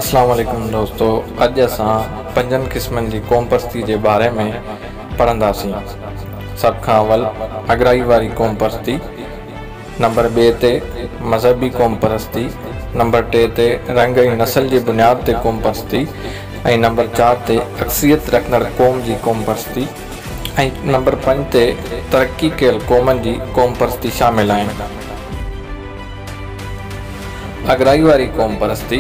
اسلام عليڪم دوستو اڄ اسان پنجن قسمن جي قوم پرستي جي باري ۾ پڙهنداسين سڀ کان اول اڳرائي واري قوم پرستي نمبر ٻئي تي مذهبي قوم پرستي نمبر ٽي تي رنگ ۽ نسل جي بنياد تي قوم پرستي ۽ نمبر چار تي اڪثريت رکندڙ قوم جي قوم پرستي ۽ نمبر پنج تي ترقي ڪيل قومن جي قوم پرستي شامل آهن. اڳرائي واري قومپرستي،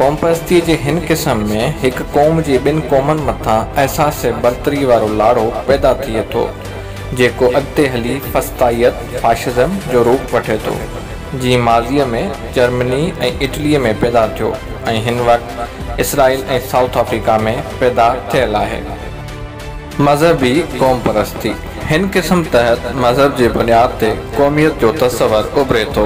قومپرستيء جي هن قسم ۾ هڪ قوم جي ٻن قومن مٿان احساس برتري وارو لاڙو پيدا ٿئي ٿو، جيڪو اڳتي هلي فسطائيت، Fascism، جو روپ وٺي ٿو، جيئن ماضيء ۾ جرمني ۽ اٽليء ۾ پيدا ٿيو ۽ هن وقت اسرائيل ۽ سائوٿ آفريڪا ۾ پيدا ٿيل آهي. مذهبي قومپرستي، هن قسم تحت مذهب جي بنياد تي قوميت جو تصور اڀري ٿو،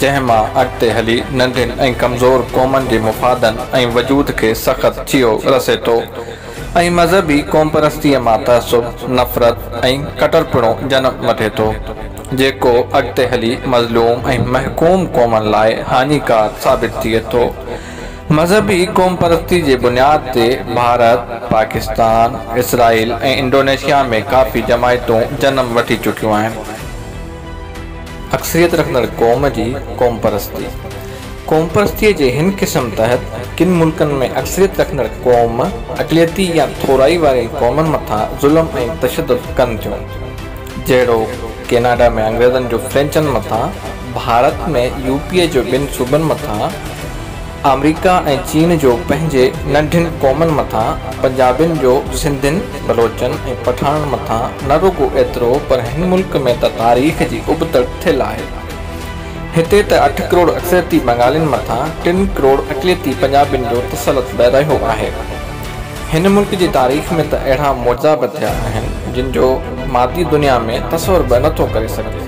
جنهن مان اڳتي هلي ننڍين ۽ ڪمزور قومن جي مفادن ۽ وجود کي سخت چيو رسي ٿو ۽ مذهبي قومپرستيء مان تعصب، نفرت ۽ ڪٽرپڻو جنم وٺي ٿو، جيڪو اڳتي هلي مظلوم ۽ محڪوم قومن لاء هاڃيڪار ثابت ٿئي ٿو. مذهبي قومپرستي جي بنياد تي ڀارت، پاڪستان، اسرائيل ۽ انڊونيشيا ۾ ڪافي جماعتون جنم وٺي چڪيون آهن. اڪثريت رکندڙ قوم جي قومپرستي، قومپرستيء جي هن قسم تحت ڪن ملڪن ۾ اڪثريت رکندڙ قوم اقليتي يا ٿورائي وارين قومن مٿان ظلم ۽ تشدد ڪن ٿيون، جهڙوڪ، ڪيناڊا ۾ انگريزن جو فرينچن مٿان، ڀارت ۾ يو پي جو ٻن صوبن مٿان، آمريڪا ۽ چين جو پنهنجي ننڍين قومن مٿان پنجابين جو سنڌين، بلوچن ۽ پٺاڻن مٿان نه رڳو ايترو پر هن ملڪ ۾ ته تاريخ جي ابتڙ ٿيل آهي. هتي ته اٺ ڪروڙ اڪثريتي بنگالين مٿان ٽن ڪروڙ اقليتي پنجابين جو تسلط به رهيو آهي. هن ملڪ جي تاريخ ۾ ته اهڙا معجزا به ٿيا آهن جن جو مادي دنيا ۾ تصور به نه ٿو ڪري سگهجي.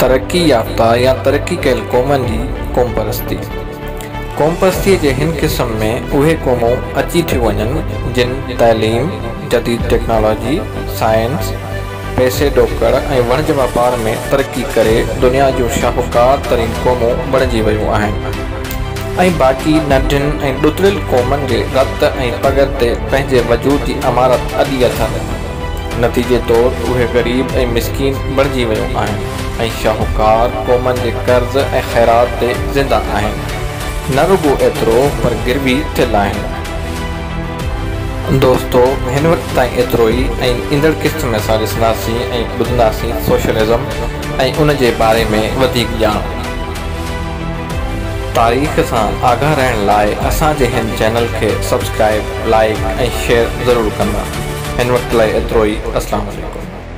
ترقي يافته يا ترقي ڪيل قومن جي قومپرستي، قومپرستيء جي هن قسم ۾ اهي قومون اچي ٿيون وڃن جن تعليم، جديد ٽيڪنالاجي، سائنس، پئسي ڏوڪڙ ۽ وڻج واپار ۾ ترقي ڪري دنيا جون شاهوڪار ترين قومون بڻجي ويون آهن ۽ باقي ننڍين ۽ ڏتڙيل قومن جي رت ۽ پڳ تي پنهنجي وجود جي عمارت اڏي اٿن. نتيجي طور اهي غريب ۽ مسڪين بڻجي ويون آهن ۽ شاهوڪار قومن جي قرض ۽ خيرات تي زنده آهن. نه رڳو ايترو پر گروي ٿيل آهن. دوستو هن وقت تائين ايترو ئي ۽ ايندڙ قسط ۾ اسان ڏسنداسين ۽ ٻڌنداسين سوشلزم ۽ ان جي باري ۾ وڌيڪ ڄاڻ. تاريخ سان آگاهه رهڻ لاء اسان جي هن چينل کي سبسڪرائيب، لائيڪ ۽ شيئر ضرور ڪندا. هن وقت لاء ايترو ئي. السلام عليڪم.